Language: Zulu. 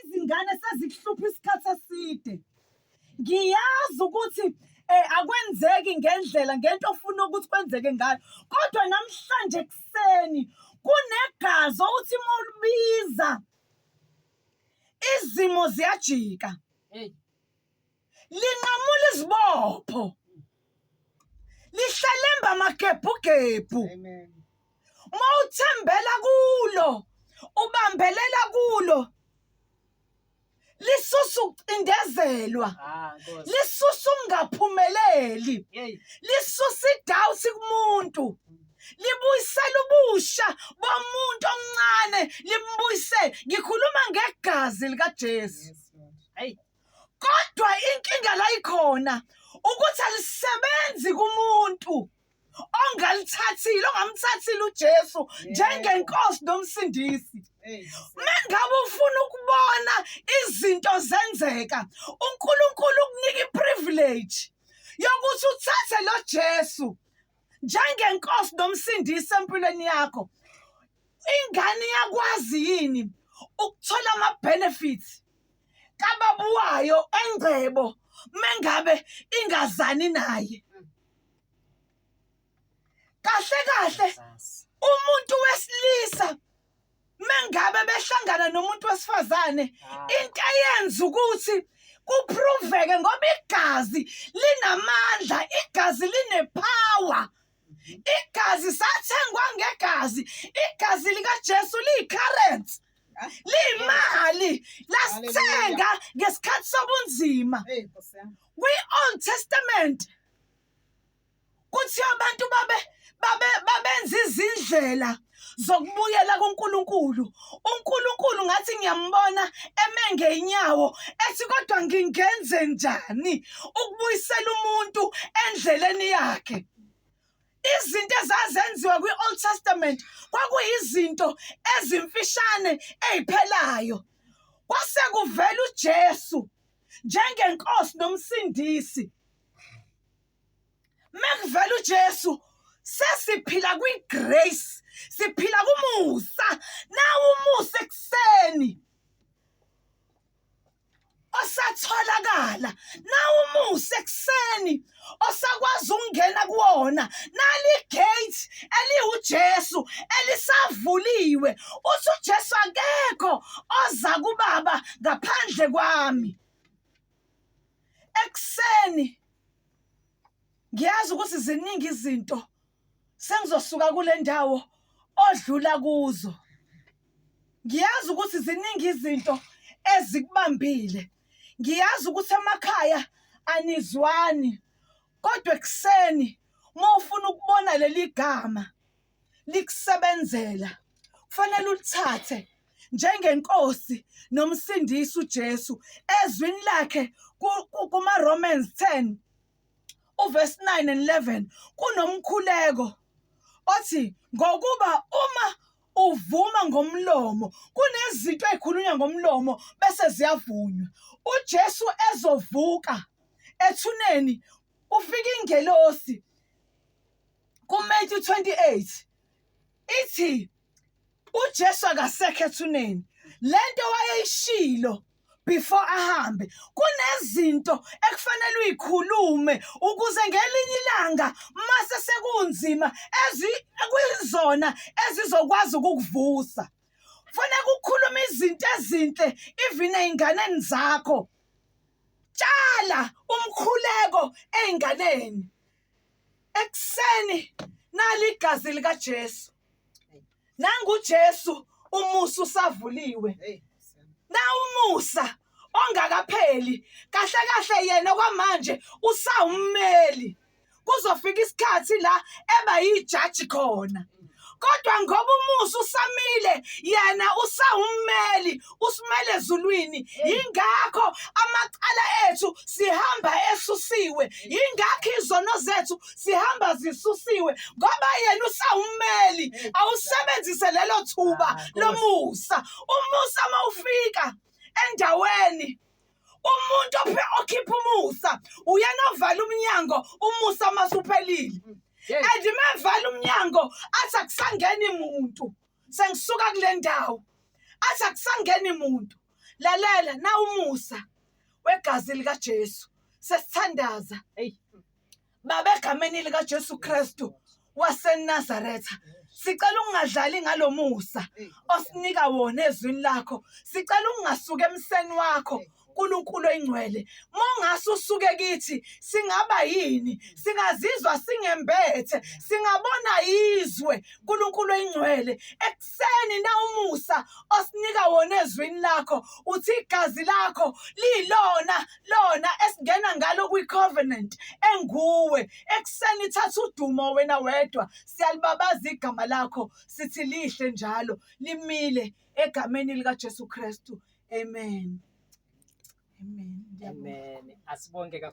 izingane sezikuhlupha isikhathi eside ngiyazi ukuthi eh akwenzeki ngendlela ngento ofuna ukuthi kwenzeke ngayo kodwa namhlanje ekseni kunegazi othi uma ulibiza izimo ziyajika hey linqamula izibopho lihlalemba amagebhugebhu uma uthembela kulo ubambelela kulo lisusa ukucindezelwa ah, lisusa ukungaphumeleli lisusa idawuthi kumuntu libuyisela ubusha bomuntu omncane limbuyise ngikhuluma ngegazi likaJesu kodwa inkinga la ikhona ukuthi alisebenzi kumuntu ongalithathile ongamthathile uJesu njengenkosi nomsindisi mengabe ufuna ukubona izinto zenzeka uNkulunkulu ukunika iprivilege yokuthi uthathe lo Jesu njengenkosi nomsindisi empilweni yakho ingane iyakwazi yini ukuthola ama-benefits kababa wayo engcebo mengabe ingazani naye kahle kahle umuntu wesilisa mengabe behlangana nomuntu wesifazane into eyenza ukuthi kuproveke ngoba igazi linamandla igazi linepower igazi sathengwa ngegazi igazi likaJesu liyicurrency liyimali lasithenga ngesikhathi sobunzima kwi-old testament kuthiwa abantu babe babe babenza izindlela zokubuyela kuNkulunkulu uNkulunkulu ngathi ngiyambona eme ngeenyawo ethi kodwa ngingenze njani ukubuyisela umuntu endleleni yakhe izinto ezazenziwa kwi-old testament kwakuyizinto ezimfishane eziphelayo kwase kuvela ujesu njengenkosi nomsindisi mekuvela uJesu sesiphila kwigrace siphila kumusa nawu umusa ekuseni osatholakala nawu umusa ekuseni osakwazi ukungena kuwona nali gate eliwuJesu elisavuliwe uthi uJesu akekho oza kubaba ngaphandle kwami ekuseni ngiyazi ukuthi ziningi izinto sengizosuka kule ndawo odlula kuzo ngiyazi ukuthi ziningi izinto ezikubambile ngiyazi ukuthi emakhaya anizwani kodwa ekuseni uma ufuna ukubona leli gama likusebenzela, kufanele ulithathe njengeNkosi noMsindisi uJesu. Ezwini lakhe kumaRomans 10 uvesi 9 and 11 kunomkhuleko othi ngokuba uma uvuma ngomlomo kunezinto ezikhulunywa ngomlomo bese ziyavunywa uJesu ezovuka ethuneni ufika ingelosi kuMethi 28 ithi uJesu akasekho ethuneni lento wayeyishilo before ahambe kunezinto ekufanele uyikhulume ukuze ngelinye ilanga mase sekunzima ezi kuyizona ezizokwazi ukukuvusa fanele ukukhuluma izinto ezinhle even einganeni zakho tshala umkhuleko einganeni ekuseni nali igazi likaJesu nanguJesu umusa usavuliwe na umusa ongakapheli kahle kahle yena kwamanje usawummeli kuzofika isikhathi la eba yijaji khona kodwa ngoba umusa usamile yena usawummeli usimele ezulwini yingakho amacala ethu sihamba esusiwe yingakho izono zethu sihamba zisusiwe ngoba yena usawummeli awusebenzise lelo thuba lomusa umusa mawufika endaweni umuntu okhipha umusa uyena ovala umnyango umusa masuphelile mm. and mevala umnyango athi akusangeni muntu sengisuka kule ndawo athi akusangeni muntu lalela nawumusa wegazi likaJesu sesithandaza hey Baba egameni likaJesu Kristu waseNazaretha sicela ungadlali ngalomusa osinika wona ezwini lakho sicela ungasuke emseni wakho uNkulunkulu oyingcwele mongase usuke kithi singaba yini singazizwa singembethe singabona izwe uNkulunkulu oyingcwele ekuseni na umusa osinika wona ezwini lakho uthi igazi lakho lilona lona esingena ngalo kwi-covenant enguwe ekuseni ithatha udumo wena wedwa siyalibabaza igama lakho sithi lihle njalo limile egameni likaJesu Kristu amen amen amen asibonge kakhulu